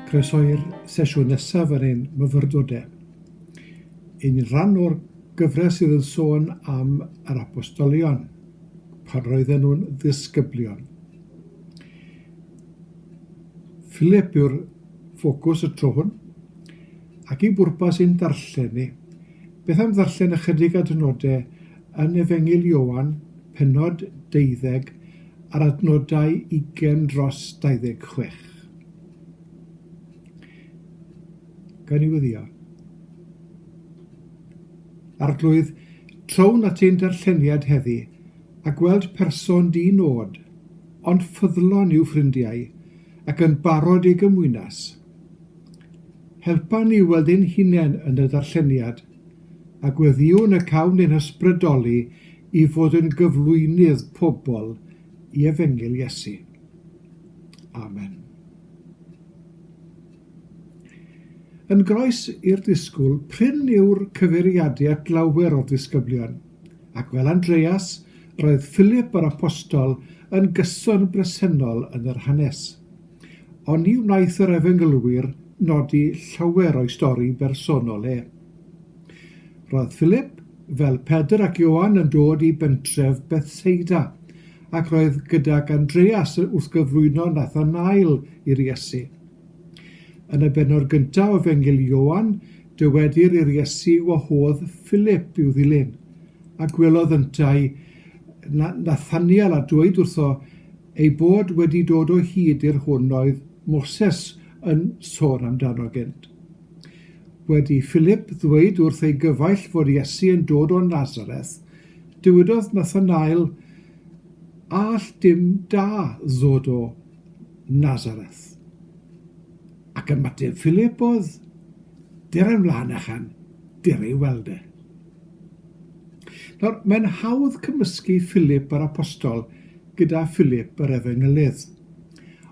Croeso i'r sesiwn nesaf yn ein myfyrdodau. Yn rhan o'r gyfres sydd yn sôn am yr apostolion, pan roedden nhw'n ddisgyblion. Philip yw'r ffocws y tro hwn, ac i bwrpas ein darllen ni, beth am ddarllen ychydig adnodau yn Efengyl Ioan, pennod deuddeg, a'r adnodau ugain dros dauddeg chwech. Gawn ni wyddio. Arglwydd, trown at ein darlleniad heddi, a gweld person di nod, ond ffyddlon i'w ffrindiau, ac yn barod ei gymwynas. Helpa ni weld ein hunain yn y darlleniad, a gweddïwn y cawn ein hysbrydoli i fod yn gyflwynydd pobl i efengyl Iesu. Amen. Yn groes i'r disgwyl, prin yw'r cyfeiriadu at lawer o'r disgyblion, ac fel Andreas, roedd Philip yr apostol yn gyson bresennol yn yr hanes. Oni wnaeth yr efengylwyr nodi llawer o'i stori bersonol e? Roedd Philip, fel Pedr ac Ioan, yn dod i bentref Bethseida, ac roedd gydag Andreas wrth gyflwyno Nathanael i'r Iesu. Yn y benod gyntaf o Fengil Ioan, dywedir i'r Iesu wahodd Philip i'w ddilyn, a gwelodd yntau Nathaniel a dweud wrtho ei bod wedi dod o hyd i'r hwn oedd Moses yn sôn amdano gynt. Wedi Philip ddweud wrth ei gyfaill fod Iesu yn dod o Nazareth, dywedodd Nathanael, A all dim da ddod o Nazareth? Ac ymateb Philip oedd, Der yn flaen a chan, der ei weld e. Nawr, mae'n hawdd cymysgu Philip yr apostol gyda Philip yr efengylydd.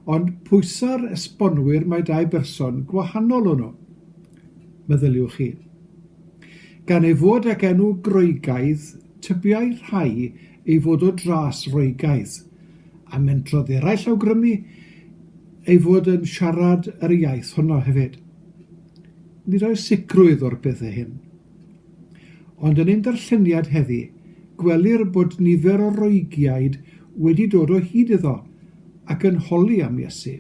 Ond pwysau'r esbonwyr mae dau berson gwahanol o'n nhw, meddyliwch chi. Gan ei fod ag enw Groegaidd, tybiai rhai ei fod o dras Roegaidd, a mentrodd eraill awgrymu ei fod yn siarad yr iaith honno hefyd. Nid oes sicrwydd o'r pethau hyn, Ond yn ein darlleniad heddi, gwelir bod nifer o Roegiaid wedi dod o hyd iddo ac yn holi am Iesu.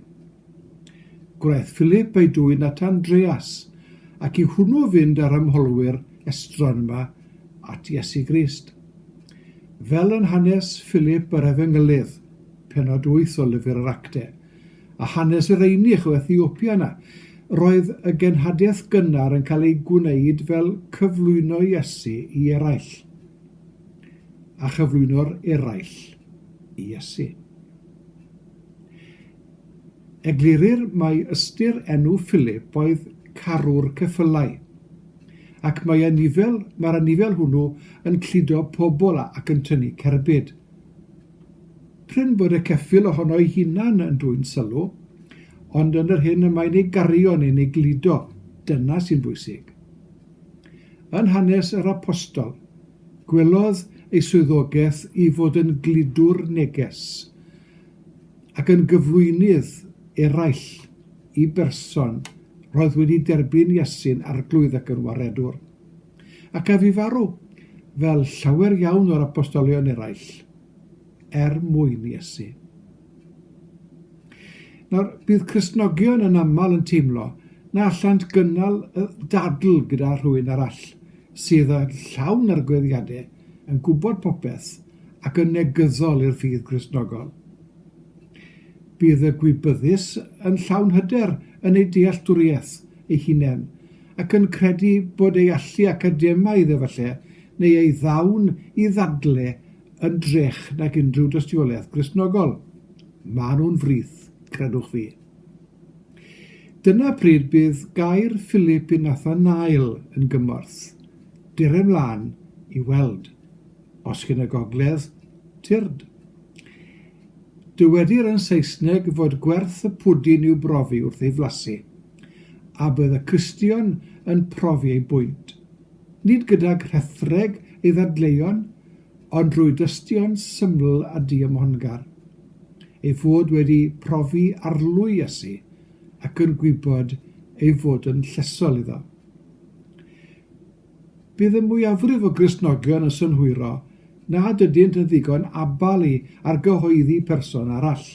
Gwnaeth Philip ei dwyn at Andreas, ac i hwnnw fynd â'r ymholwyr estron yma at Iesu Grist. Fel yn hanes Philip yr Efengylydd, penod wyth o lyfr yr Acte, a hanes yr Einych o Ethiopia yna. Roedd y genhadaeth gynnar yn cael ei gwneud fel cyflwyno Iesu i eraill, a chyflwyno'r eraill i Iesu. Eglurir mai ystyr enw Philip oedd carwr ceffylau, ac mae anifail, mae'r anifail hwnnw yn cludo pobl ac yn tynnu cerbyd. Prin bod y ceffyl ohono'i hunan yn dwyn sylw, ond yn yr hyn y mae'n ei gario neu'n ei gludo, dyna sy'n bwysig. Yn hanes yr Apostol, gwelodd ei swyddogaeth i fod yn gludwr neges ac yn gyflwynydd eraill i berson roedd wedi derbyn Iesu'n arglwydd ac yn waredwr. Ac ef i farw, fel llawer iawn o'r apostolion eraill, er mwyn Iesu. Nawr, bydd Cristnogion yn aml yn teimlo na allant gynnal y dadl gyda rhywun arall sydd yn llawn arglwyddiadau, yn gwybod popeth ac yn negyddol i'r ffydd Gristnogol. Bydd y gwybyddus yn llawn hyder yn ei dealltwriaeth ei hunain ac yn credu bod ei allu academaidd efallai, neu ei ddawn i ddadle yn drech nag unrhyw dystiolaeth Gristnogol. Maen nhw'n frith, credwch fi. Dyna pryd bydd gair Philip i Nathanael yn gymorth. Dere mlaen i weld. Os chi'n y gogledd, tyrd. Dywedir yn Saesneg fod gwerth y pwdin i'w brofi wrth ei flasu. A bydd y Cristion yn profi eu bwynt, nid gydag rhethreg ei ddadleuon, ond drwy dystion syml a diymhongar, ei fod wedi profi arlwy Iesu ac yn gwybod ei fod yn llesol iddo. Bydd y mwyafrif o Gristnogion yn synhwyro nad ydynt yn ddigon abal i argyhoeddi person arall.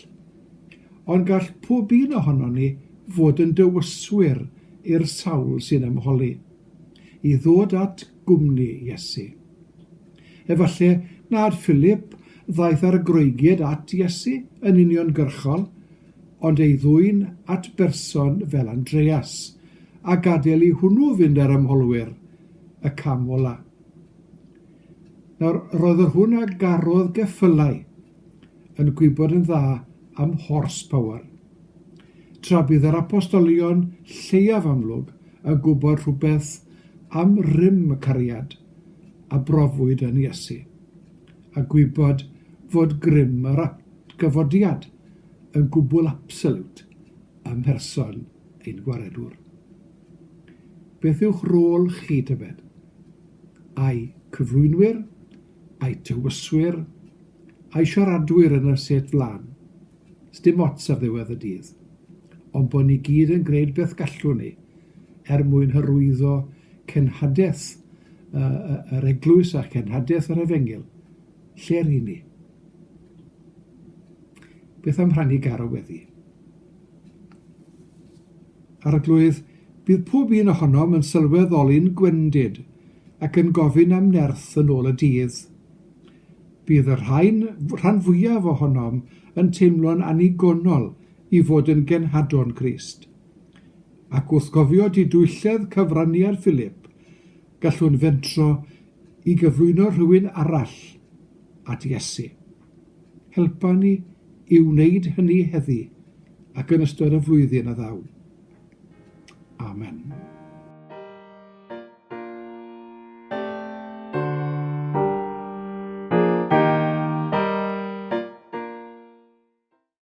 Ond gall pob un ohonon ni fod yn dywyswyr i'r sawl sy'n ymholi i ddod at gwmni Iesu. Efallai nad Philip ddaeth ar y Groegiad at Iesu yn uniongyrchol, ond ei ddwyn at berson fel Andreas, a gadael i hwnnw fynd â'r ymholwyr y cam ola. Nawr, roedd yr hwn a garodd geffylau yn gwybod yn dda am horsepower. Tra bydd yr apostolion lleiaf amlwg yn gwybod rhywbeth am rym y cariad a brofwyd yn Iesu, a gwybod fod grym yr atgyfodiad yn gwbl absolute ym mherson Ein Gwaredwr. Beth yw'ch rôl chi, tybed? Ai cyflwynwyr, ai tywyswyr, ai siaradwyr yn y set flan? Sdim ots ar ddiwedd y dydd. Ond bod ni gyd yn gwneud beth gallwn ni er mwyn hyrwyddo cenhadaeth yr eglwys a cenhadaeth yr efengyl. Lle ry'n ni? Beth am rhannu garw weddi? Arglwydd, bydd pob un ohonom yn sylweddoli'n gwendid ac yn gofyn am nerth yn ôl y dydd. Bydd y rhain, rhan fwyaf ohonom yn teimlo'n annigonol i fod yn genhadon Crist. Ac wrth gofio didwylledd cyfraniad Philip, gallwn fentro i gyflwyno rhywun arall at Iesu. Helpa ni i wneud hynny heddi ac yn ystod y flwyddyn a ddaw. Amen.